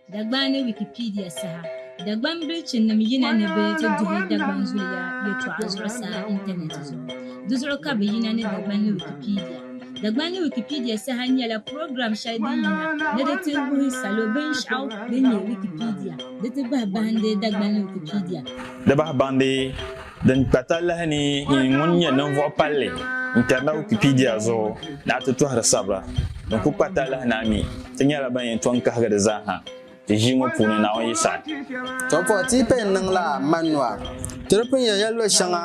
Dagban ni Wikipedia saha Dagban bilichinim yina ni bɛ ti duhi Dagban zuliya yɛtɔɣa zuɣusaa intanɛti zuɣu. Di zuɣu ka bɛ yina ni Dagban ni Wikipedia. Dagban ni Wikipedia saha nyɛla program shɛli din yina ni di ti wuhi salo binshɛɣu din nyɛ Wikipedia di ti bahi bahindi Dagban ni Wikipedia. Di bahi bahindi. Din kpa talahi ni yi ŋun nyɛ ninvuɣ palli n-kari na Wikipedia zuɣu ni a ti tɔhiri sabira din kul kpa talahi ni a mi ti nyɛla ban yɛn tɔŋ kahigi di zaa ha ti ʒii ŋɔ puuni Naawuni yi saɣi. Tɔbuɣu ti yi paya n-niŋ la Manua, ti di pun yɛn ya luɣ shɛŋa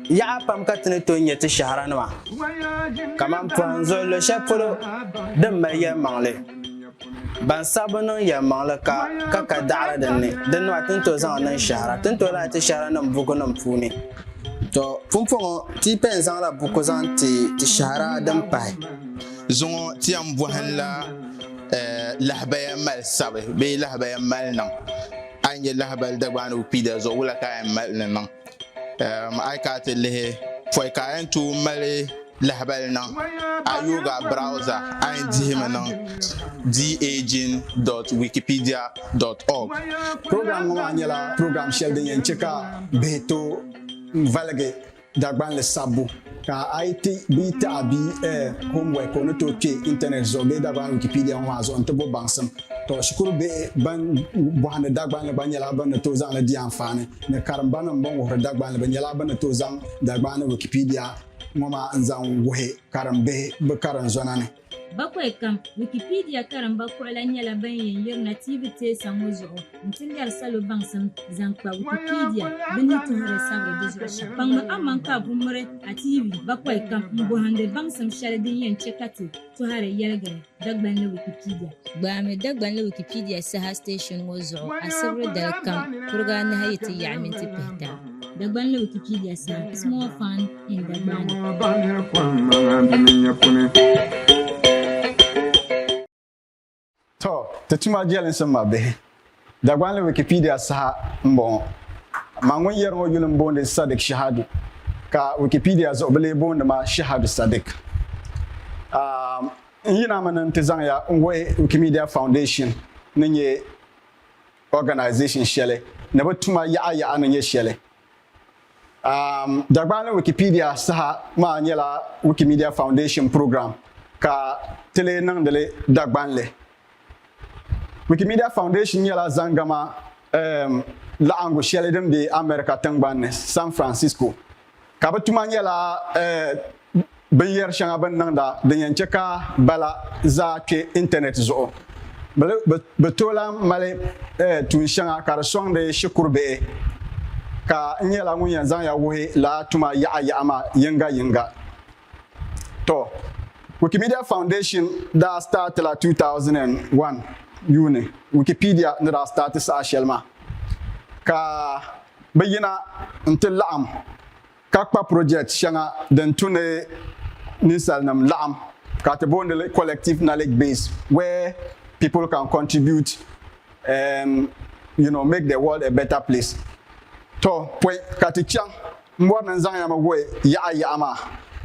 yaɣa pam ka ti ni tooi nya ti shɛhira nima kaman pɔhim zuɣu luɣ shɛli polo din mali yɛlimaŋli. Ban saɣi bi niŋ yɛlimaŋli ka ka ka daɣiri din ni, din nɔhi ti ni tooi zaŋ niŋ shɛhira, ti ni tooi lahi ti shɛhiranim bukunim puuni. Tɔ! Pumpɔŋɔ, ti yi pɛn zaŋla buku zaŋ ti ti shɛhira din pahi. Zuŋɔ ti yɛn bɔhinla lahabaya mali sabi bee lahabaya mali niŋ. A yi nya lahabali Dagbaani Wikipedia zuɣu, wula ka a yɛn mali ni niŋ? A yi kana ti lihi pɔi ka a yɛn tooi mali lahabali niŋ a yooga browza a yɛn dihimi niŋ daging.wikipedia.org program ŋɔ maa nyɛla program shɛli din yɛn chɛ ka bihi tooi valigi Dagbanli sabbu Ka a yi ti bia taɣi bia eh, homework o ni tooi kpe intanet zuɣu bee Dagbani Wikipedia ŋɔ maa zuɣu nti bo baŋsim. Tɔ, shikuru bihi ban bɔhindi Dagbanli gba nyɛla bɛ ni tooi zaŋ li di anfaani ni karimbanim bɛn wuhiri Dagbanli bɛ nyɛla bɛ ni tooi zaŋ Dagbaani Wikipedia ŋɔ maa n-zaŋ wuhi karimbihi bɛ karinzɔna ni. Bakwai kam, Wikipedia karimba kuɣila nyɛla ban yɛn yirina tiivi teesa ŋɔ zuɣu nti lɛri salo baŋsim zaŋ kpa Wikipedia bɛ ni tuhiri sabiri di zuɣu shɛm. Kpaŋmi aman ka a ku miri a tiivi bakwai kam m-bɔhindi baŋsim shɛli din yɛn chɛ ka ti tɔhiri yɛligiri Dagbanli Wikipedia. Gbaami Dagbanli Wikipedia saha station ŋɔ zuɣu asibiri dali kam kuriga anahi yi ti yaɣi minti pihita. Dagbanli Wikipedia saha, Small Fund. To, ti tuma jɛlinsi m ma bihi. Dagbanli Wikipedia saha m bɔŋɔ. Ma ŋun yɛri ŋɔ yuli m boondi Sadiq Shahadu ka Wikipedia zuɣu bi lee boondi ma Shahadu Sadiq. Aam, n yina mi ni n ti zaŋ ya n wuhi Wikimedia Foundation ni nyɛ organisation shɛli ni bi tuma yaɣa yaɣa ni nyɛ shɛli Um, Dagbaani Wikipedia saha maa nyɛla Wikimedia Foundation program ka ti lee niŋdili Dagbanli. Wikimedia Foundation nyɛla zaŋgama um, laɣingu shɛli din be America tiŋgbani ni, San Francisco, ka bɛ tuma nyɛla uh, binyɛri shɛŋa bini niŋda din yɛn chɛ ka bala zaa kpe intanɛt zuɣu. Bɛ tooi lahi mali tuun shɛŋa ka di sɔŋdi shikuru bihi, ka n nyɛla ŋun yɛn zaŋ ya wuhi lala tuma yaɣa yaɣa maa yiŋga yiŋga. Tɔ! Wikimedia Foundation daa staati la 2001 yuuni Wikipedia ni daa staati saha shɛli maa, ka bɛ yina n-ti laɣim ka kpa project shɛŋa din tu ni ninsalinim laɣim ka ti booni li collective knowledge base where people can contribute and you know make the world a better place. Tɔ, pɔi ka ti chaŋ. M bɔri ni n zaŋ ya mi wuhi yaɣa yaɣa maa,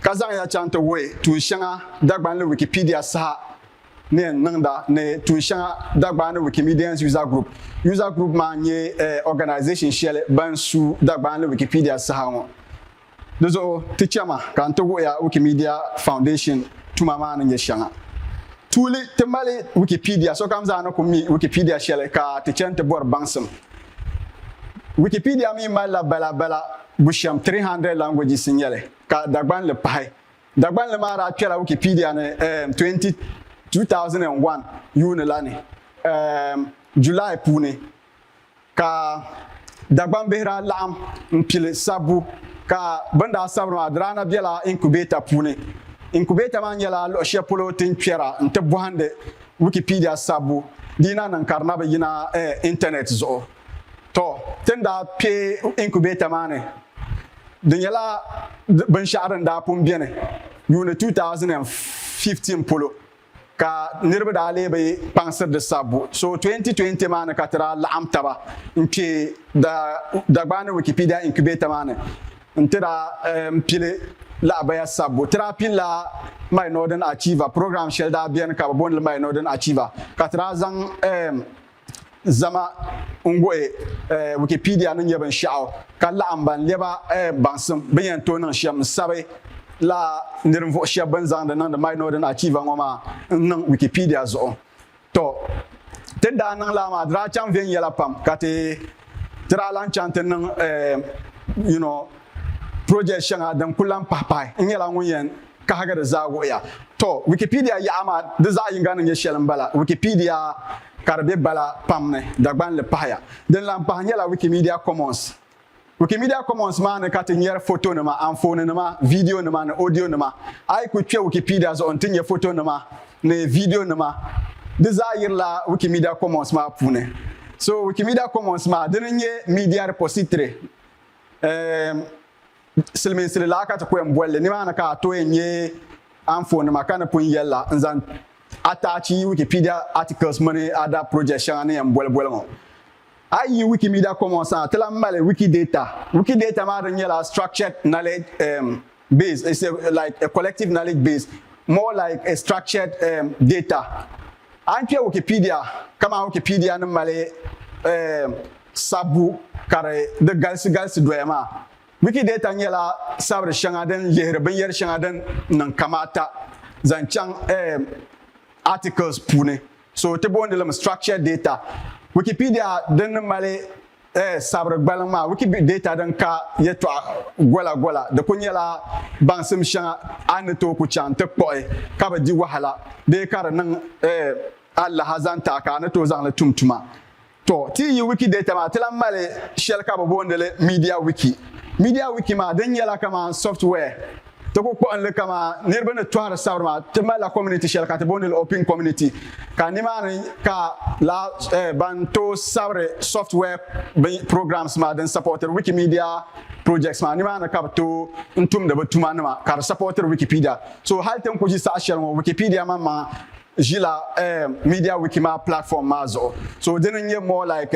ka zaŋ ya chaŋ ti wuhi tuun shɛŋa Dagbanli Wikipedia saha. ni n niŋda ni tuun shɛŋa Dagbaani Wikimedians User Group. User Group maa n-nyɛ organization shɛli ban su Dagbaani Wikipedia saha ŋɔ. Di zuɣu ti chɛma ka n ti wuhi ya Wikimedia Foundation tuma maa ni nyɛ shɛŋa. Tuuli ti mali Wikipedia, sokam zaa ni ku mi Wikipedia shɛli ka ti chɛ nti bɔri baŋsim. Wikipedia mi malila bala bala bushɛm 300 languages n-nyɛli ka Dagbanli pahi Dagbanli maa daa kpɛla Wikipedia ni um, 20, 2001 yuuni la ni um, July puuni ka Dagban bihi daa laɣim n pili sabbu ka bini daa sabiri maa di daa na bela incubator puuni. Incubator maa nyɛla luɣi shɛli polo ti ni kpɛra n ti bɔhindi Wikipedia sabbu di yi na niŋ ka di na bi yina um, internet zuɣu. Tɔ, ti ni daa kpe incubator maa ni, di nyɛla binshɛɣu din daa pun beni yuuni 2015 polo, ka niriba daa lee bi kpaŋsiri di sabbu. So 2020 maa ni ka ti daa laɣim taba n-kpe Dagbani Wikipedia Incubator maa ni nti daa pili lahabaya sabbu. Ti daa pilila My Northern Achiever, program shɛli daa beni ka bɛ booni li My Northern Achiever, ka ti daa zaŋ. Zama n gooi Wikipedia ni nyɛ binshɛɣu ka laɣim ban lɛba baŋsim bɛ ni yɛn tooi niŋ shɛm n-sabi la ni ninvuɣ shɛb bɛn zaŋ di niŋdi My Northern Archive ŋɔ maa n-niŋ Wikipedia zuɣu. Tɔ! Ti ni daa niŋ lala maa di daa chaŋ viɛnyɛla pam ka ti ti daa lan chaŋ ti niŋ you know project shɛŋa din kul lan pahipahi. N nyɛla ŋun yɛn. Kahigi di zaa wuhiya. Tɔ, Wikipedia yaɣa maa di zaɣ yiŋga ni nyɛ shɛli m-bala, Wikipedia ka di be bala pam ni Dagban li pahaya. Din lahi pahi nyɛla Wikimedia Commons. Wikimedia Commons maa ni ka ti nyɛri fotonima, anfooninima, vidiyonima ni odiyonima. A yi ku kpe Wikipedia zuɣu nti nya fotonima ni vidiyonima, di zaa yirila Wikimedia Commons maa puuni. So Wikimedia Commons maa, dini n-nyɛ media repository. Eem. Silimiinsili laa ka ti ku yɛn boli li, nimaani ka a tooi nya anfoonnima ka ni pun yɛli la, n zaŋ attach yi Wikipedia articles mini other projects shɛŋa ni yɛn boli boli ŋɔ. A yi yi Wikimedia Commons ha, ti lan mali Wikidata. Wikidata maa di nyɛla structured knowledge um base, it's a like a collective knowledge base more like a structured um data. A ni kpe Wikipedia kaman Wikipedia ni mali eem sabbu ka di di galisi galisi doya maa, Wikidata nyɛla sabiri shɛŋa din lihiri binyɛri shɛŋa din niŋ kamaata zaŋ chaŋ eem articles puuni. So ti boondilimi structured data. Wikipedia din ni mali Eh, sabiri gbaliŋ maa Wikidata din ka yɛtɔɣa gola gola. Di ku nyɛla baŋsim shɛŋa a ni tooi ku chaŋ nti kpuɣi ka bi di wahala bee ka di niŋ eh, alaha zaŋ taɣi ka a ni tooi zaŋ li tum tuma. Tɔ, ti yi yi Wikidata maa, ti lahi mali shɛli ka bi booni li MediaWiki. MediaWiki maa, din nyɛla kamani software Ti ku kpuɣinli kaman niriba ni tɔhiri sabiri maa, ti malila community shɛli ka ti booni li Oping Community ka nimaani ka lala ban tooi sabiri software bin programs maa din sapɔtiri Wikimedia projects maa, nimaani ka bɛ tooi n tumdi bɛ tuma nima ka di sapɔtiri Wikipedia. So hali ti ni ku ʒi saha shɛli ŋɔ Wikipedia maŋmaŋ ʒila MediaWiki maa platform maa zuɣu. So di ni nyɛ more like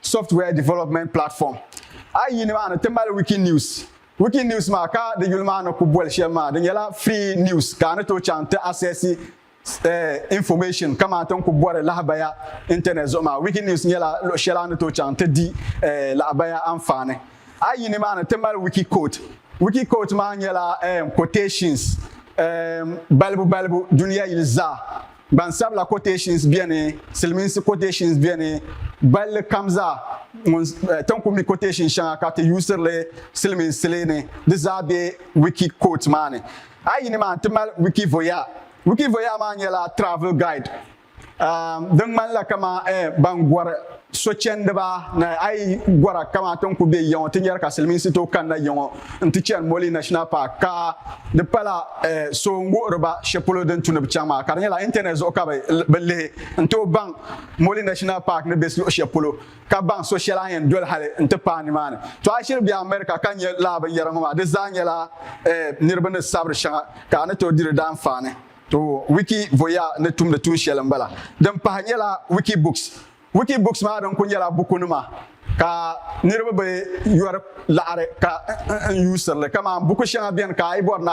software development platform. A yi yi nimaani ti mali Wikinews. Wikinews maa ka di yuli maa ni ku boli shɛm maa di nyɛla free news ka a ni tooi chaŋ ti access information kaman ti ni ku bɔri lahabaya internet zuɣu maa. Wikinews nyɛla luɣ shɛli a ni tooi chaŋ ti di lahabaya anfaani. A yi yi nimaani ti mali Wikiquote. Wikiquote maa nyɛla quotations balibu balibu duniya yili zaa Gbansabila quotations beni, Silimiinsi quotations beni, balli kam zaa ŋun tin ku mi quotation shɛŋa ka ti yuusiri li silimiinsili ni di zaa be wiki quote maa ni. A yi yini maa nti mali Wikivoyeur. Wikivoyeur maa nyɛla travel guide din ŋmanila kaman ban gɔri sochɛndiba ni a yi gɔra kamaa ti ni ku be ya ŋɔ ti nyari ka silimiinsi tooi kanna ya ŋɔ nti chani Moli National Park ka di pala eh, so n-wuhiri ba shɛli polo din tu ni bɛ chaŋ maa ka di nyɛla internet zuɣu ka bɛ lihi n-tooi baŋ Moli National Park ni be luɣ shɛli polo ka baŋ so shɛli a ni yɛn doli hali nti paai nimaani. To a shiri be America ka nya lala binyɛra ŋɔ maa di zaa nyɛla eh, niriba ni sabiri shɛŋa ka a ni tooi di di daanfaani. To Wiki Voya ni tumdi tuun shɛli m-bala. Din pahi nyɛla Wiki Books. Wiki Books maa din kuli nyɛla bukunima ka niriba bi yɔri laɣiri ka n yuusiri li. Kaman buku shɛŋa beni ka a yi bɔri ni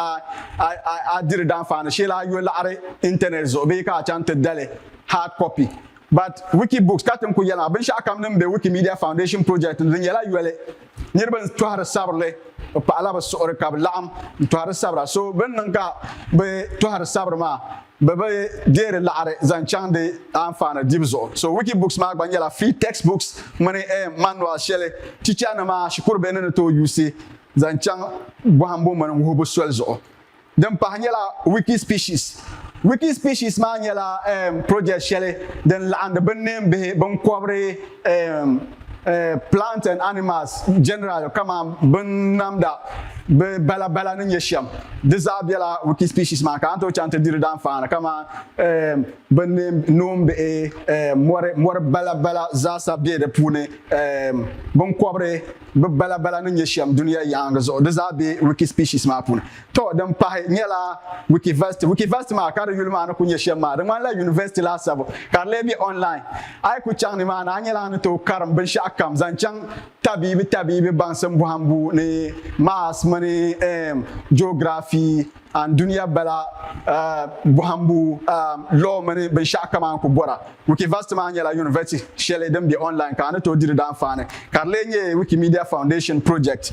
a diri daanfaani shee la a yo laɣiri intanɛt zuɣu bee ka a chaŋ ti da li hard copy. But Wikibooks ka tim ku yɛlima binshɛɣu kam din be Wikimedia Foundation project ni di nyɛla yoli. Niriba n tɔhiri sabirili bi paɣila bi suɣiri ka bi laɣim n tɔhiri sabira so bini niŋ ka bi tɔhiri sabiri maa bi bi deeri laɣiri zaŋ chaŋ di anfaani dibu zuɣu. So Wikibooks maa gba nyɛla free textbooks mini eem manual shɛli teacher nima shikuru bihi ni ni tooi yuusi zaŋ chaŋ bɔhimbu mini wuhibu soli zuɣu. Din pahi nyɛla Wikispecies. Wikispecies maa nyɛla um, project shɛli din laɣindi binneembihi, binkɔbiri, um, uh, plants and animals generally kamani binnamda, bɛ balabala ni nyɛ shɛm. Di zaa bela Wikispecies maa ni ka a ni tooi chaŋ ti di di danfaani kamani um, binneem, noombihi, um, mɔri, mɔri balabala zaasa be di puuni, um, binkɔbiri, Bɛ bala bala ni nyɛ shɛm duniya yaangi zuɣu, di zaa be Wikispecies maa puuni. Tɔ, din pahi nyɛla Wikiversity. Wikiversity maa, ka di yuli maa ni kul nyɛ shɛm maa, di ŋmanila University laasabu, ka di lee be online. A yi ku chaŋ nimaani, a nyɛla ni tooi karim binshɛɣu kam zaŋ chaŋ tabiibi tabiibi baŋsim bɔhimbu ni Maths mini Geography. An dunia bala bɔhimbu law mini binshɛɣu kaman ku bɔra. Wikivast maa nyɛla yunivɛti shɛli din be online ka a ni tooi di di daanfaani, ka di lee nyɛ Wikimedia Foundation project.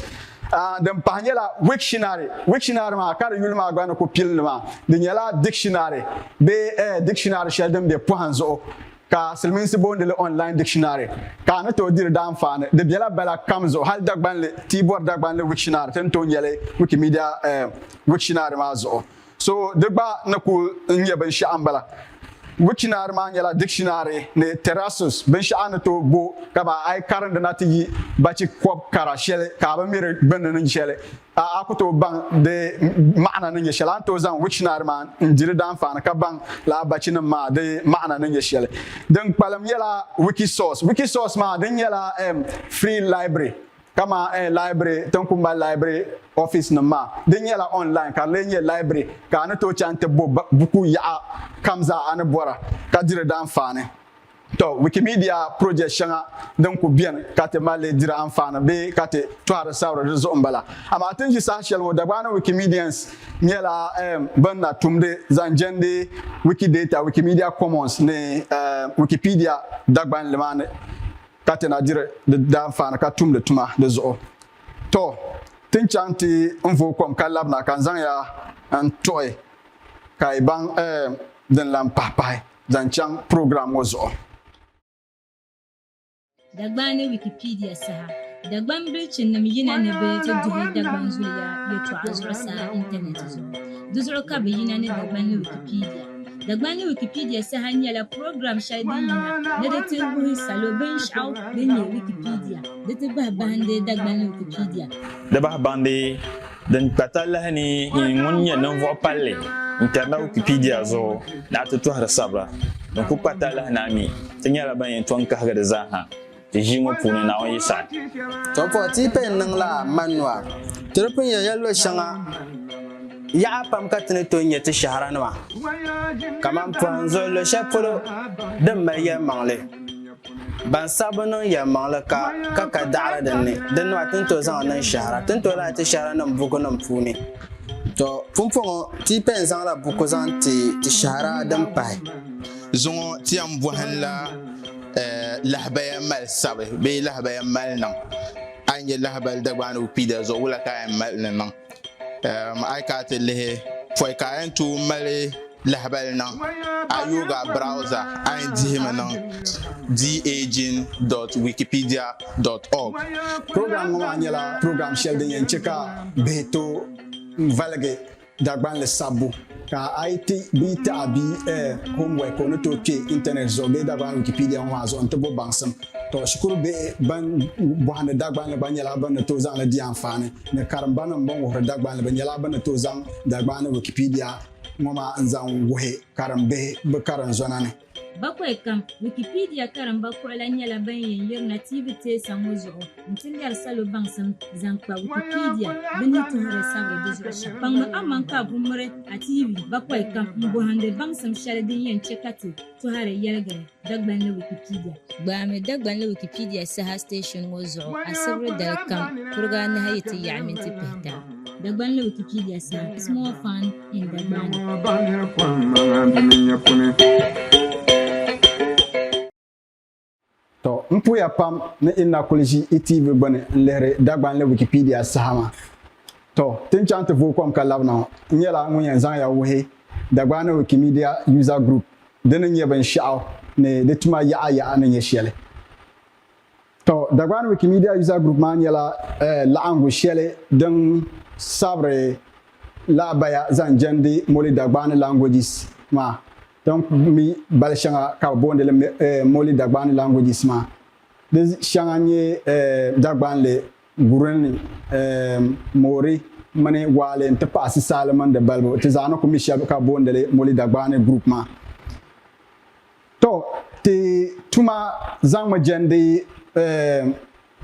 Din pahi nyɛla Wiktionary. Wiktionary maa, ka di yuli maa gba ni ku pili ni maa, di nyɛla dikshinari bee dictionary shɛli din be pɔhim zuɣu ka silimiinsi boondi li online dictionary, ka a ni tooi di di daanfaani. Di bela bala kam zuɣu, hali Dagbanli, ti yi bɔri Dagbanli Wiktionary ti ni tooi nyeli Wikimedia Wiktionary maa zuɣu. So di gba ni kuli n-nyɛ binshɛɣu m-bala. Wiktionary maa nyɛla dictionary ni terrasus, binshɛɣu a ni tooi bo ka ba a yi karindi na ti yi bachi kɔb kara sheli ka a bi mi di gbunni ni sheli. A a ku tooi baŋ di maɣana ni nyɛ shɛli, a ni tooi zaŋ wikishinari maa n-di di daanfaani ka baŋ lala bachinim maa di maɣana ni nyɛ shɛli. Din kpalim nyɛla Wikisource. Wikisource maa di nyɛla um free library kaman um library ti ni ku mali library ofiisinim maa. Di nyɛla online ka di lee nyɛ library ka a ni tooi chaŋ nti bo buku yaɣa kam zaa a ni bɔra ka di di daanfaani. Tɔ! Wikimedia project shɛŋa din ku beni ka ti mali diri anfaani bee ka ti tɔhiri sabiri di zuɣu m-bala. Amaa ti ni ʒi saha shɛli ŋɔ, Dagbaani Wikimedians nyɛla ban na tumdi zaŋ jɛndi Wikidata, Wikimedia Commons ni Wikipedia Dagbanli maa ni ka ti na diri di daanfaani ka tumdi tuma di zuɣu. Tɔ! Ti ni chaŋ ti ni vooi kom ka labina ka n zaŋ ya n-tuɣi ka yi baŋ din lan pahipahi. zaŋ chaŋ program ŋɔ zuɣu. Dagban ni Wikipedia saha Dagban bilichinim yina ni bɛ ti duhi Dagban zuliya yɛtɔɣa zuɣusaa intanɛti zuɣu. Di zuɣu ka bɛ yina ni Dagban ni Wikipedia. Dagban ni Wikipedia saha nyɛla program shɛli din yina ni di ti wuhi salo binshɛɣu din nyɛ Wikipedia di ti bahi bahindi Dagban ni Wikipedia. Di bahi bahindi Din kpa talahi ni yi ŋun nyɛ ninvuɣ palli n-kari na Wikipedia zuɣu ni a ti tɔhiri sabira din kul kpa talahi ni a mi ti nyɛla ban yɛn tɔŋ kahigi di zaa ha ti ʒii ŋɔ puuni, Naawuni yi saɣi. Tɔbuɣu ti yi paya n-niŋ la Manua, ti di pun yɛn ya luɣ shɛŋa yaɣa pam ka ti ni tooi nya ti shɛhira nima kaman pɔhim zuɣu luɣ shɛli polo din mali yɛlimaŋli. Ban saɣi bi niŋ yɛlimaŋli ka ka ka daɣiri din ni, din nɔhi tin tooi zaŋ niŋ shɛhira, tin tooi lahi ti shɛhira niŋ bukunim puuni. Tɔ! Pumpɔŋɔ, ti yi pɛn zaŋla buku zaŋ ti ti shɛhira din pahi. Zuŋɔ ti yɛn bɔhinla lahabaya mali sabi bee lahabaya mali niŋ. A yi nya lahabali Dagbaani Wikipedia zuɣu, wula ka a yɛn mali ni niŋ? A yi kana ti lihi pɔi ka a yɛn tooi mali lahabali niŋ a yooga browza a yɛn dihimi niŋ daging.wikipedia.org program ŋɔ maa nyɛla program shɛli din yɛn chɛ ka bihi tooi valigi Dagbanli sabbu Ka a yi ti bia taɣi bia eh, homework o ni tooi kpe intanet zuɣu bee Dagbani Wikipedia ŋɔ maa zuɣu nti bo baŋsim. Tɔ, shikuru bihi ban bɔhindi Dagbanli gba nyɛla bɛ ni tooi zaŋ li di anfaani ni karimbanim bɛn wuhiri Dagbanli bɛ nyɛla bɛ ni tooi zaŋ Dagbaani Wikipedia ŋɔ maa n-zaŋ wuhi karimbihi bɛ karinzɔna ni. Bakwai kam, Wikipedia karimba kuɣila nyɛla ban yɛn yirina tiivi teesa ŋɔ zuɣu nti lɛri salo baŋsim zaŋ kpa Wikipedia bɛ ni tuhiri sabiri di zuɣu shɛm. Kpaŋmi aman ka a ku miri a tiivi bakwai kam m-bɔhindi baŋsim shɛli din yɛn chɛ ka ti tɔhiri yɛligiri Dagbanli Wikipedia. Gbaami Dagbanli Wikipedia saha station ŋɔ zuɣu asibiri dali kam kuriga anahi yi ti yaɣi minti pihita. Dagbanli Wikipedia saha, Small Fund. To n puya pam ni i na kuli ʒi i TV gbuni n lihiri Dagbanli Wikipedia sahama. To ti ni chaŋ ti vooi kom ka labina ŋɔ, n nyɛla ŋun yɛn zaŋya wuhi Dagbani Wikimedia User Group di ni nyɛ binshɛɣu ni di tuma yaɣa yaɣa ni nyɛ shɛli. Tɔ, Dagbani Wikimedia User Group maa nyɛla laɣingu shɛli din sabiri lahabaya zaŋ jɛndi Moli Dagbani languages maa. Din mi bali shɛŋa ka bɛ boondi li Moli Dagbani languages maa. Di shɛŋa n-nyɛ Dagbanli, Gurini, Mori mini Waale n-ti pahi Sisaali mini di balibu. Ti zaa ni ku mi shɛba ka bɛ boondi li Moli Dagbani group maa. To ti tuma zaŋmi jɛndi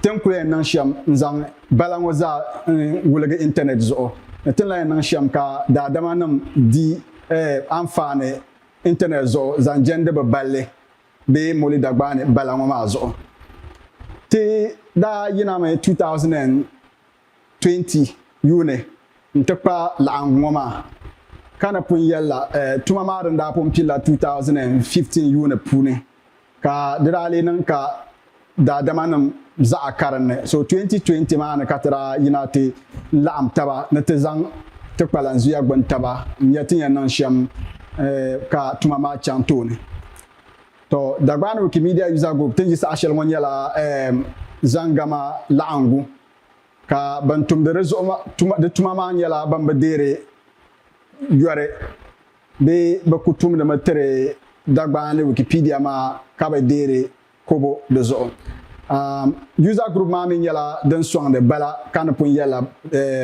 ti ni kuli yɛn niŋ shɛm n-zaŋ bala ŋɔ zaa n-wuligi intanɛt zuɣu ni ti ni lahi yɛn niŋ shɛm ka daadamanim di anfaani intanɛt zuɣu zaŋ jɛndi bɛ balli bee Moli Dagbaani bala ŋɔ maa zuɣu. Ti daa yinami 2002 20 yuuni n-ti kpaai laɣingu ŋɔ maa, ka ni pun yɛlila tuma maa din daa pun pilila 2015 yuuni puuni, ka di daa lee niŋ ka daadamanim zaɣa karinli, so 2020 maa ni ka ti daa yina ti laɣim taba ni ti zaŋ ti kpalanzuya gbini taba n-nya ti ni yɛn niŋ shɛm ka tuma maa chaŋ tooni. Tɔ! Dagbani Wikimedia User Group ti ni yi saha shɛli ŋɔ nyɛla Zangama laɣingu ka ban tumdi di zuɣu di tuma maa nyɛla ban bi deeri yɔri bee bɛ ku tumdimi tiri Dagbani ni Wikipedia maa ka bi deeri kobo di zuɣu. User group maa mi nyɛla din sɔŋdi bala ka ni pun yɛlila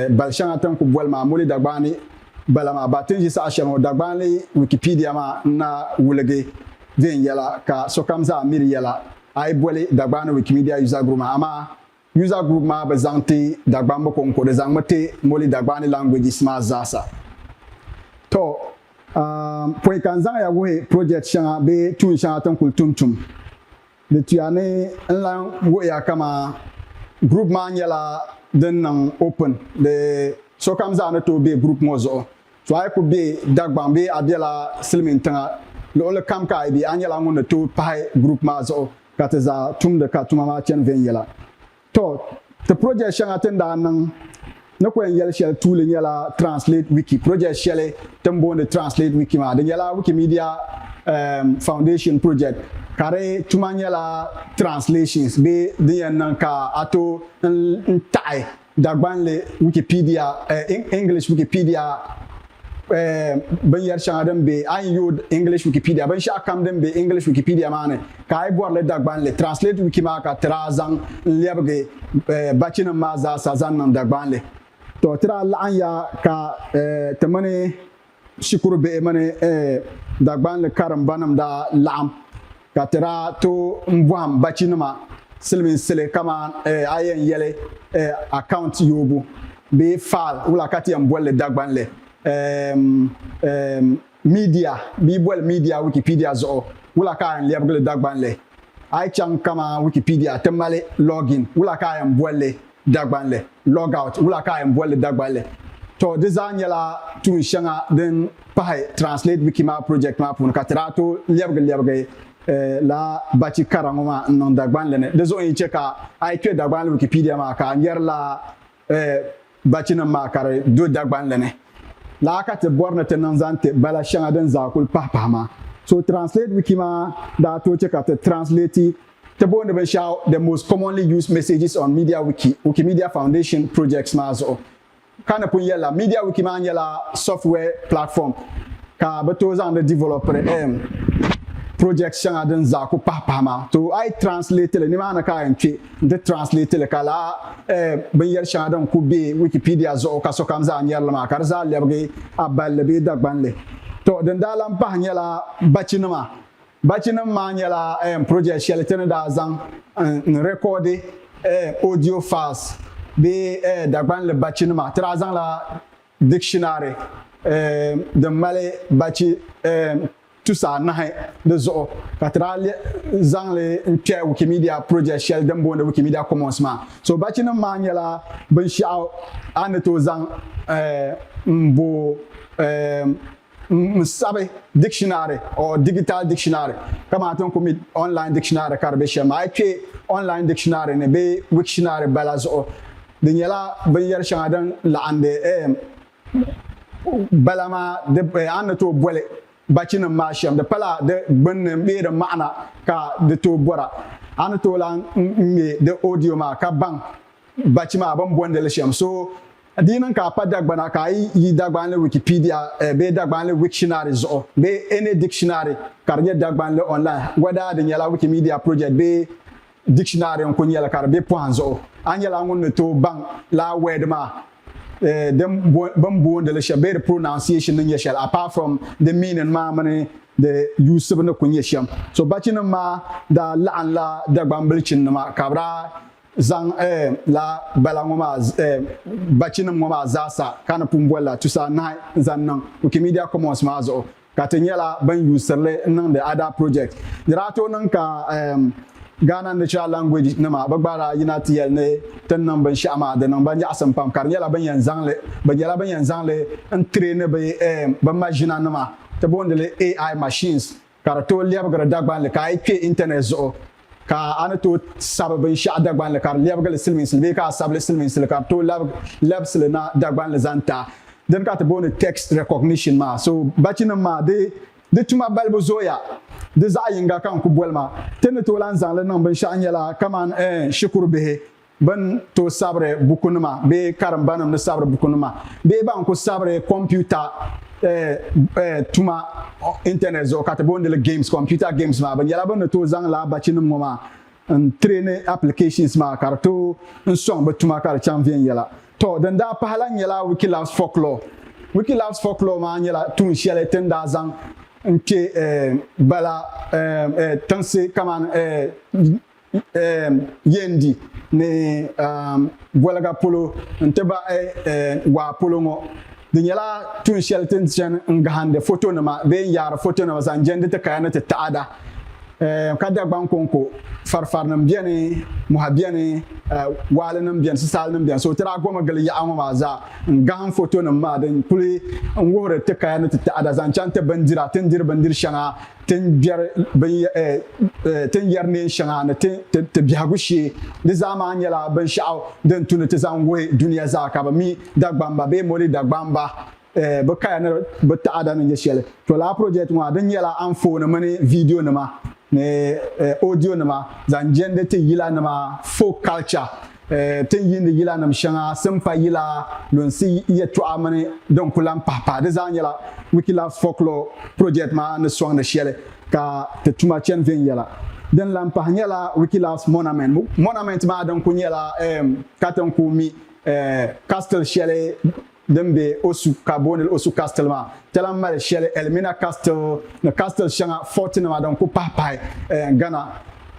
bal shɛŋa ti ni ku boli maa Muli Dagbani bala maa. Ba ti ni ʒi saha shɛli ŋɔ Dagbani Wikipedia maa n-na wuligi viɛnyɛla ka sokam zaa miri yɛla a yi boli Dagbani Wikimedia User Group maa amaa User group maa bi zaŋ ti Dagbamb ko n-ko, di zaŋmi ti Moli Dagbani languages maa zaasa. Tɔ, aam, pɔi ka n zaŋ ya wuhi project shɛŋa bee tuun shɛŋa ti n kul tum tum. Di tuya ni n lan wuhi ya kaman group maa nyɛla din niŋ open di sokam zaa ni tooi be group ŋɔ zuɣu To a yi ku be Dagbaŋ bee a bela silimiin tiŋa luɣili kam ka a yi be, a nyɛla ŋun ni tooi pahi group maa zuɣu ka ti zaa tumdi ka tuma maa chani viɛnyɛla. To ti project shɛŋa ti ni daa niŋ ni ku yɛn yɛli shɛli tuuli nyɛla Translate Wiki. Project shɛli ti ni booni Translate Wiki maa, di nyɛla Wikimedia Foundation project ka di tuma nyɛla translations bee din yɛn niŋ ka a tooi n taɣi Dagbanli Wikipedia, English Wikipedia, Binyɛri shɛŋa din be a ni yooi English Wikipedia binshɛɣu kam din be English Wikipedia maa ni ka a yi bɔri li Dagbanli Translate Wiki maa ka ti daa zaŋ n-lɛbigi bachinim maa zaasa zaŋ niŋ Dagbanli. Tɔ, ti daa laɣimya ka ti mini shikuru bihi mini Dagbanli karimbanim daa laɣim ka ti daa tooi bɔhim bachinima silimiinsili kaman a yɛn yɛli account yoobu bee file wula ka ti yɛn boli li Dagbanli media bee boli media Wikipedia zuɣu wula ka a yɛn lɛbigi li Dagbanli a yi chaŋ kaman Wikipedia ti mali login wula ka a yɛn boli li Dagbanli, Logout, wula ka a yɛn boli li Dagbanli? Tɔ, di zaa nyɛla tuun shɛŋa din pahi Translate Wiki maa project maa puuni ka ti daa tooi lɛbigi lɛbigi laa bachi kara ŋɔ maa n-niŋ Dagbanli ni. Di zuɣu n-yi chɛ ka a yi kpe Dagbanli Wikipedia maa ka a nyari laa bachinim maa ka di do Dagbanli ni. Laa ka ti bɔri ni ti niŋ zaŋ ti bala shɛŋa din zaa kuli pahi pahi maa. So Translate Wiki maa daa tooi chɛ ka ti translate Ti booni binshɛɣu The Most Commonly Used Messages on MediaWiki Wikimedia Foundation Projects maa zuɣu. Ka ni pun yɛlila, MediaWiki maa nyɛla software platform ka bɛ tooi zaŋdi developiri eem projects shɛŋa din zaa ku pahi pahi maa. To a yi translate li, nimaani ka a yɛn kpe nti translate li ka lala eem binyɛri shɛŋa din ku be Wikipedia zuɣu ka sokam zaa nyari li maa ka di zaa lɛbigi a balli bee Dagbanli. To din daa lan pahi nyɛla bachinima Bachinim maa nyɛla project shɛli ti ni daa zaŋ n rɛkɔɔdi audio files bee Dagbanli bachi nima. Ti daa zaŋla dictionary din mali bachi tusa anahi di zuɣu ka ti daa zaŋ li n kpɛhi Wikimedia project shɛli din booni Wikimedia Commons maa. So bachinim maa nyɛla binshɛɣu a ni tooi zaŋ m bo n-sabi dictionary or digital dictionary kamani ti ni kuli mi online dictionary ka di be shɛm maa. A yi kpe online dictionary ni bee Wiktionary bala zuɣu, di nyɛla binyɛri shɛŋa din laɣindi eem bala maa di a ni tooi boli bachinim maa shɛm. Di pala di gbinni bee di maɣina ka di tooi bɔra. A ni tooi lahi ŋme di audio maa ka baŋ bachi maa bɛ ni bondi li shɛm. So. Di yi niŋ ka a pa Dagbana ka a yi yi Dagbanli Wikipedia bee Dagbanli Wiktionary zuɣu bee any dictionary ka di nyɛ Dagbanli online, whether di nyɛla Wikimedia project bee dictionary n-kuli nyɛli ka di be pɔhim zuɣu, a nyɛla ŋun ni tooi baŋ lala word maa din bini boondi li shɛm bee di pronunciation ni nyɛ shɛli apart from di meaning maa mini di yuusibu ni kuli nyɛ shɛm. So Bachinim maa daa laɣinla Dagbanbilichinnima ka bɛ daa Zaŋ eem la bala ŋɔ maa eem bachinim ŋɔ maa zaasa ka ni pun boli la tusa anahi n-zaŋ niŋ Wikimedia Commons maa zuɣu ka ti nyɛla bɛn yuusiri li n-niŋdi Ada Project. Di daa tooi niŋ ka eem Ghana Natural Language nima bɛ gba daa yina ti yɛli ni ti ni niŋ binshɛɣu maa di niŋ ba nyaɣisim pam ka di nyɛla bɛn yɛn zaŋ li bɛ nyɛla bɛn yɛn zaŋ li n-traini bɛ eem bɛ maʒina nima ti booni li AI machines ka di tooi lɛbigiri Dagbanli ka a yi kpe intanɛt zuɣu ka a ni tooi sabi binshɛɣu Dagbanli ka di lɛbigi li silimiinsili bee ka a sabi li silimiinsili ka di tooi labisi li na Dagbanli zaŋ ti a. Dini ka ti booni text recognition maa. So bachinim maa di di tuma balibu zooya. Di zaɣ yiŋga ka n ku boli ma. Ti ni tooi lan zaŋ li niŋ binshɛɣu nyɛla kamani ɛɛn shikuru bihi Ban tooi sabiri bukunima bee karimbanim ni sabiri bukunima bee ban kuli sabiri kompiuta tuma intanɛt zuɣu ka ti booni li games, computer games, maa, bɛ nyɛla bɛ ni tooi zaŋ lala bachinim ŋɔ maa n-traini applications maa ka di tooi n-sɔŋ bɛ tuma ka di chaŋ viɛnyɛla. Tɔ! Din daa pahi lahi nyɛla Wikilabs Folklore. Wikilabs Folklore maa nyɛla tuun shɛli ti ni daa zaŋ n-kpe bala tiŋsi kamani. eem, yendi ni eem, goliga polo n-ti bahi eem, waa polo ŋɔ. Di nyɛla tuun shɛli ti ni chani n-gahindi fotonima bee n-yaari fotonima zaŋ jendi ti kaya ni ti taada. Eem, ka Dagbaŋ kɔŋko farifarinim beni, mɔha beni, eem, waalinim beni, sisaalinim beni. So ti daa gomi gili yaɣa ŋɔ maa zaa n-gahim fotonim maa din kuli n-wuhiri ti kaya ni ti taada zaŋ chaŋ ti bindira ti ni diri bindir shɛŋa ti ni biɛri neen shɛŋa ni ti biɛhigu shee, di zaa maa nyɛla binshɛɣu din tu ni ti zaŋ wuhi dunia zaa ka bɛ mi Dagbamba bee Moli Dagbamba bɛ kaya ni bɛ taɣada ni nyɛ shɛli. To lala project ŋɔ a di nyɛla anfooni mini video nima ni audio nima zaŋ jɛndi ti yila nima folk culture Ti ni yiindi yilanima shɛŋa simpa yila, lunsi yɛtɔɣa mini din ku lan pahi pahi. Di zaa nyɛla Wikilove's Folklore Project maa ni sɔŋdi shɛli ka ti tuma chani viɛnyɛla. Din lan pahi nyɛla Wikilove's Monument. Monument maa din ku nyɛla katiŋ ku mi castle shɛli din be Osu ka booni li Osu Castle maa, ti lahi mali shɛli Elmina Castle ni castle shɛŋa, fort nima, din kuli pahi pahi Ghana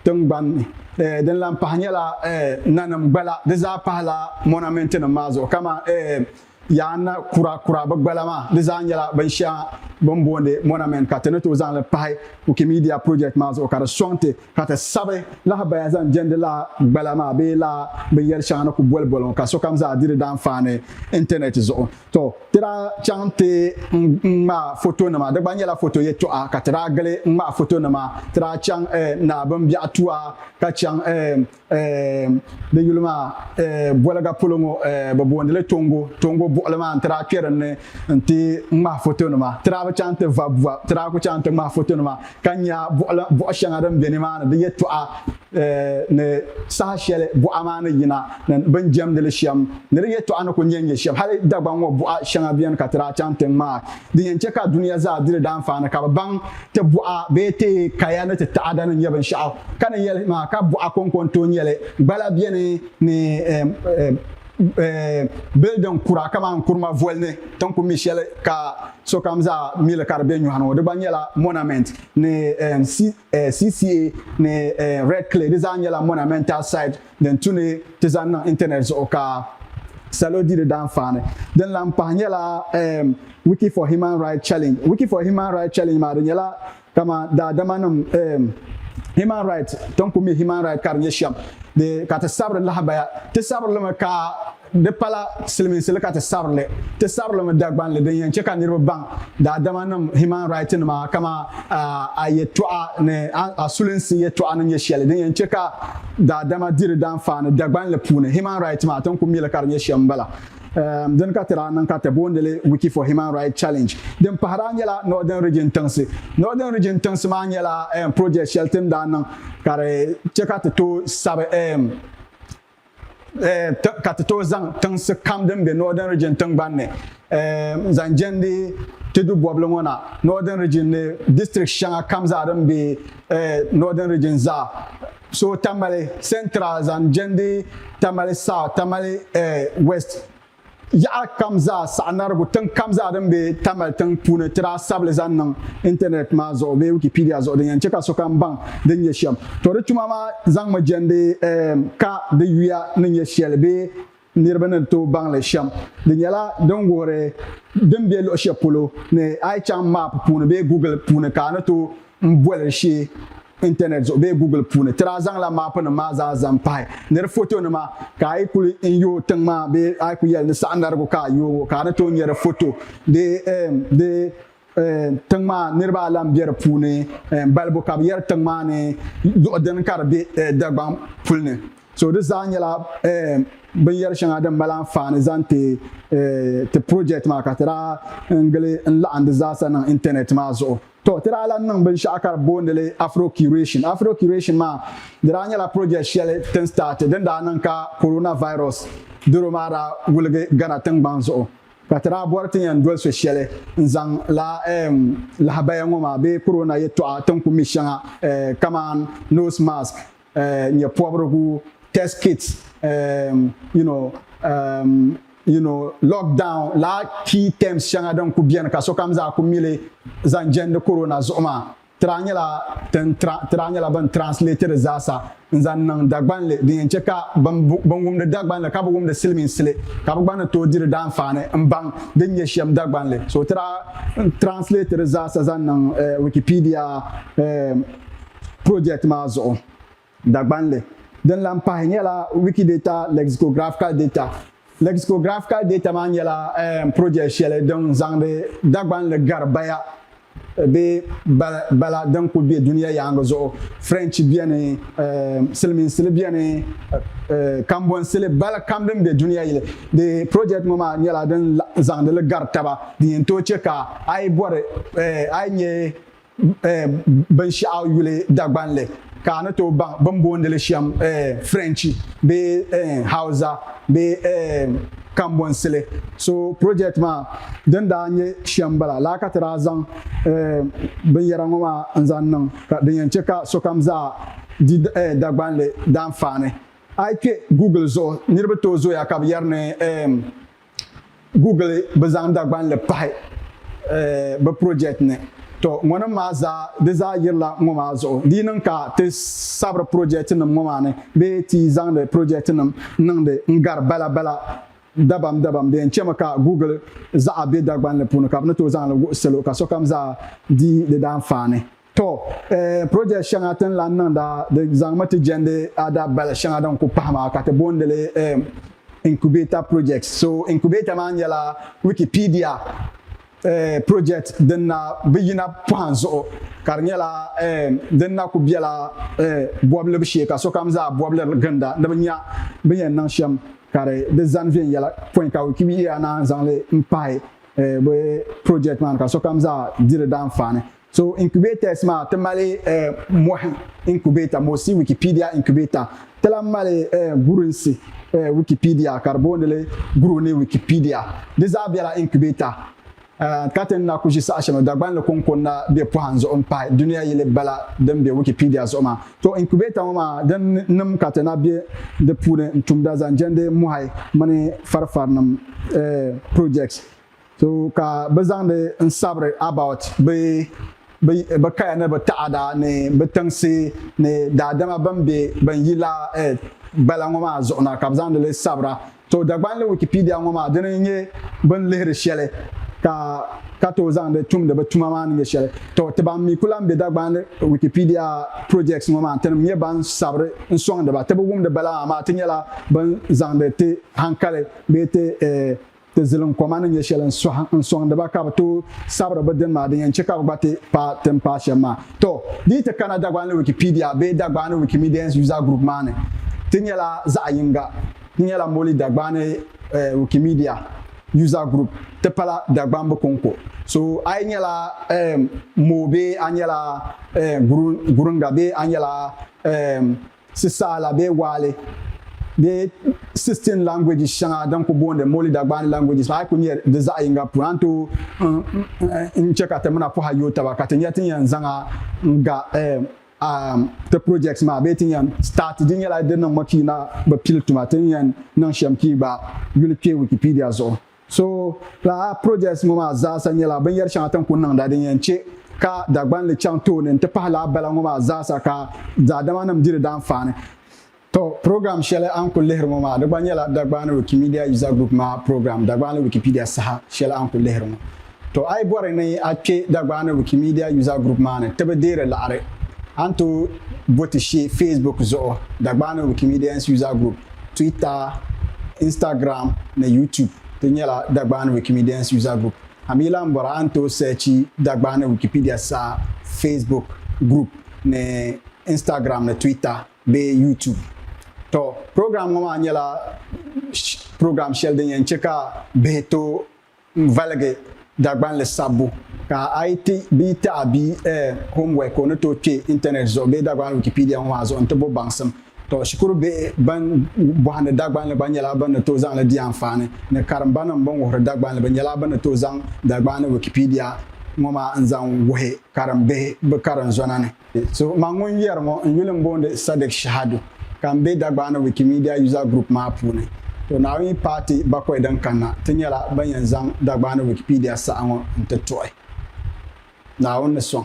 tingbani ni. Din lahi pahi nyɛla nanim gbala, di zaa pahila monument nim maa zuɣu kamani Yaa Na Kura Kura bi gbala maa, di zaa nyɛla binshɛŋa bini booni monument ka ti ni tooi zaŋli pahi Wikimedia project maa zuɣu ka di sɔŋ ti. ka ti sabi lahabaya zaŋ jɛndi laa gbala maa bee laa binyɛri shɛŋa ni ku boli boli ŋɔ ka sokam zaa di di daanfaani intanɛt zuɣu. Tɔ! Ti daa chaŋ nti ŋmaai fotonima, di gba nyɛla foto yɛtɔɣa, ka ti daa gili ŋmaai fotonima. Ti daa chaŋ eh Naa Bimbiɛɣu Tuwa ka chaŋ eh Di yuli maa boliga polo ŋɔ bɛ boondi li Tongo. Tongo buɣili maa n-ti daa kpe dinni nti ŋmahi fotonima. Ti daa bi chaŋ nti vabi va, ti daa kuli chaŋ nti ŋmahi fotonima ka nya buɣ shɛŋa din be nimaani di yɛtɔɣa ni saha shɛli buɣa maa ni yina ni bɛ ni jɛmdi li shɛm ni di yɛtɔɣa ni kuli nyɛ n-nyɛ shɛm. Hali Dagbaŋ ŋɔ buɣa shɛŋa beni ka ti daa chaŋ nti ŋmaai. din yɛn chɛ ka dunia zaa di di daanfaani, ka bɛ baŋ ti buɣa bee ti kaya ni ti taada ni nyɛ binshɛɣu ka ni yɛli maa, ka buɣa kɔŋko n-tooi nyɛ li. Gbala beni ni bildin kura kamani Nkurumah voli ni ti ni ku mi shɛli ka sokam zaa mi li ka di be nyɔhi ni ŋɔ. Di gba nyɛla monament ni Eh, CCA ni eh, Red Clay di zaa nyɛla monumental site din tu ni ti zaŋ niŋ internet zuɣu ka salo di di daanfaani. Din lahi pahi nyɛla eh, Wiki for Human Rights Challenge. Wiki for Human Rights Challenge maa di nyɛla kamani daadamanim eh, human rights, ti ni ku mi human rights ka di nyɛ shɛm di ka ti sabiri lahabaya. Ti sabiri li mi ka Di pala silimiinsi li ka ti sari li. Ti sari li mi Dagbanli din yɛn che ka niriba baŋ daadamanim human right nima kaman a yɛltɔɣa ni a sulinsi yɛltɔɣa ni nyɛ shɛli din yɛn che ka daadama di di danfaani Dagbanli puuni. Human right maa ti ni ku mi li ka di nyɛ shɛm m-bala. Dini ka ti daa niŋ ka ti boondi li Wiki for Human Right Challenge. Din pahi daa nyɛla Northern Region tiŋsi. Northern Region tiŋsi maa nyɛla project shɛli ti ni daa niŋ ka di che ka ti tooi sabi eh, ka ti tooi zaŋ tiŋsi kam din be Northern Region tingbani ni eh, zaŋ jɛndi ti du bɔbili ŋɔ na Northern Region ni district shɛŋa kam zaa din be eh, Northern Region zaa so Tamale Central zaŋ jɛndi Tamale South Tamale eh, West Yaɣa kam zaa saɣinarigu tiŋ kam zaa din be Tamil tiŋ puuni ti daa sabi li zaŋ niŋ intanɛt maa zuɣu bee Wikipedia zuɣu din yɛn che ka sokam baŋ din nyɛ shem. To di tuma maa zaŋmi jɛndi eem ka di yuya ni nyɛ sheli bee niriba ni tooi baŋ li shem. Di nyɛla din wuhiri din be luɣi sheli polo ni a yi chaŋ map puuni bee Google puuni ka a ni tooi boli shee. intanɛt zuɣu bee Google puuni tiri a zaŋla maapunima maa zaa zaŋ pahi ni di fotonima ka a yi kuli yooi tiŋ maa bee a yi kuli yɛli ni saɣindarigu ka a yooi o ka a ni tooi nya di foto bee di tiŋ maa niriba a lan be di puuni balibu ka bɛ yɛri tiŋ maa ni luɣ dini ka di be Dagbaŋ puli ni so di zaa nyɛla binyɛri shɛŋa din mali anfaani zaŋ ti ti project maa ka ti daa n gili n laɣim di zaasa niŋ intanɛt maa zuɣu. Tɔ, ti daa lan niŋ binshɛɣu ka di boondi li Afro-Curation. Afro-Curation maa, di daa nyɛla project shɛli ti ni starti din daa niŋ ka coronavirus doro maa daa wuligi Ghana tiŋgbani zuɣu ka ti daa bɔri ti yɛn doli so shɛli n-zaŋ lala eem lahabaya ŋɔ maa bee corona yɛtɔɣa ti ni ku mi shɛŋa eeh kaman nose mask, uh, nyɛpɔbirigu, test kits, um, you know, um, you know, lockdown, la key terms shɛŋa din ku beni ka sokam zaa ku mili zaŋ jɛndi corona zuɣu maa, ti daa nyɛla tin ti daa nyɛla bin translate di zaasa n zaŋ niŋ Dagbanli din yɛn chɛ ka bin wumdi Dagbanli ka bi wumdi silimiinsili ka bi gba ni tooi di di daanfaani n baŋ din nyɛ shɛm Dagbanli. So ti daa translate di zaasa zaŋ niŋ eh, Wikipedia eh, Project maa zuɣu Dagbanli din lan pahi nyɛla Wikidata Lexicographical Data. Lexicographical Data maa nyɛla project shɛli din zaŋdi Dagbanli gari baya bee bala din kuli be dunia yaaŋa zuɣu. French beni, Silimiinsili beni, Kambonsili, bala kam din be dunia yili. Di project ŋɔ maa nyɛla din zaŋdi li gari taba din yɛn tooi chɛ ka a yi bɔri a yi nyɛ binshɛɣu yuli Dagbanli ka a ni tooi baŋ bɛ ni boondi li shɛm Firenchi bee Hausa bee Kambonsili. So project maa din daa nyɛ shɛm m-bala laa ka ti daa zaŋ binyɛra ŋɔ maa n-zaŋ niŋ ka din yɛn chɛ ka sokam zaa di Dagbanli daanfaani. A yi kpe Google zuɣu niriba tooi zooya ka bɛ yɛri ni Google bi zaŋ Dagbanli pahi bi project ni. To ŋɔnim maa zaa di zaa yirila ŋɔ maa zuɣu. Di yi niŋ ka ti sabiri project nim ŋɔ maa ni bee ti zaŋdi project nim niŋdi n gari bala bala dabam dabam di yɛn chemi ka Google zaɣa be Dagbanli puuni ka bi ni tooi zaŋli wuhi salo ka sokam zaa di di daanfaani. Tɔ! Project shɛŋa ti ni lan niŋda di zaŋmi ti jɛndi ada bali shɛŋa din ku pahi maa ka ti boondi li Incubator Projects. So Incubator maa nyɛla Wikipedia project din na bi yina pɔhim zuɣu ka di nyɛla din na ku bela bɔbilibu shee ka sokam zaa bɔbiliri ginda ni bɛ nya bɛ yɛn niŋ shɛm ka di di zani viɛnyɛla pɔin ka Wikipedia naan zaŋ li m-pahi bɛ project maa ni ka sokam zaa di di daanfaani. So incubators maa ti mali mɔhi incubator Mosi Wikipedia Incubator ti lahi mali gurinsi Wikipedia, ka di booni li guruni Wikipedia Di zaa bela incubator ka ti ni na ku ʒi saha shɛm Dagban ni kɔŋko ni na be pɔhim zuɣu m-pahi dunia yili bala din be Wikipedia zuɣu maa. To incubator ŋɔ maa din nim ka ti na be di puuni n-tumda zaŋ jɛndi mɔhi mini farifarinim projects. So ka bɛ zaŋdi n sabiri about bɛ bɛ kaya ni bɛ taɣada ni bɛ tiŋsi ni daadama bɛn be bɛn yi la earth gbala ŋɔ maa zuɣu na ka bɛ zaŋdi li sabira. To Dagbanli Wikipedia ŋɔ maa dini n-nyɛ bɛ ni lihiri shɛli ka ka tooi zaŋdi tumdi bɛ tuma maa ni nyɛ shɛli. To ti ban mi ku lan be Dagbanli Wikipedia projects ŋɔ maa tinim nyɛ ban sabiri n sɔŋdi ba ti bi wumdi bala maa maa ti nyɛla bɛn zaŋdi ti hankali bee ti Ti zilim koma ni nyɛ shɛli n-sɔŋdi ba ka bɛ tooi sabiri bɛ dini maa din yɛn chɛ ka bɛ gba ti paai tin paai shɛm maa. Tɔ! Di yi ti kana Dagbanli Wikipedia bee Dagbani Wikimedians User Group maa ni, ti nyɛla zaɣ yiŋga. Di nyɛla Moli Dagbani Wikimedia User Group ti pala Dagbambu kɔŋko. So a yi nyɛla Moo bee a nyɛla Gurunga bee a nyɛla Sisaala bee Waale bee sixteen languages shɛŋa din ku booni Moli Dagbaani languages maa a yi ku nyɛ di zaɣ yinga pun a ni tooi n chɛ ka ti mina pɔha yooi taba ka ti nya ti ni yɛn zaŋ a n-ga ti project maa bee ti ni yɛn start di nyɛla di niŋmi pii na bi pili tuma ti ni yɛn niŋ shɛm pii gba yuli kpe Wikipedia zuɣu. So, lala projects ŋɔ maa zaasa nyɛla binyɛri shɛŋa ti ni kuli niŋda din yɛn che ka Dagbanli chaŋ tooni n-ti pahi lala bala ŋɔ maa zaasa ka daadamanim di di danfaani. Tɔ, program shɛli a ni kuli lihiri ŋɔ maa di gba nyɛla Dagbani Wikimedia User Group maa program Dagbanli Wikipedia saha shɛli a ni kuli lihiri ŋɔ. To a yi bɔri ni a kpe Dagbani Wikimedia User Group maa ni ti bi deeri laɣiri, a ni tooi bo ti she Facebook zuɣu, Dagbani Wikimedians User Group, Twitter, Instagram ni YouTube di nyɛla Dagbani Wikimedians User Group. A mi lahi bɔra a ni tooi searchi Dagbani Wikipedia saha Facebook group ni Instagram ni Twitter bee YouTube. To program ŋɔ maa nyɛla program shɛli din yɛn che ka bihi tooi N-valigi Dagbanli sabbu ka a yi ti bia taɣa bia ɛɛn homework ka o ni tooi kpe Internet zuɣu bee Dagbanli Wikipedia ŋɔ maa zuɣu nti bo baŋsim. Tɔ, shikuru bihi ban bɔhindi Dagbanli gba nyɛla bɛ ni tooi zaŋ li di anfaani ni karimbanim bɛn wuhiri Dagbanli bɛ nyɛla bɛ ni tooi zaŋ Dagbanli Wikipedia ŋɔ maa n-zaŋ wuhi karimbihi bɛ karinzɔna ni. So, man ŋun yɛri ŋɔ n yuli m-booni Sadiq Shahadu ka m be Dagbani Wikimedia User Group maa puuni. To Naawuni paati bakɔi din kanna, ti nyɛla ban yɛn zaŋ Dagbani Wikipedia saha ŋɔ n-ti tuɣi. Naawuni ni sɔŋ.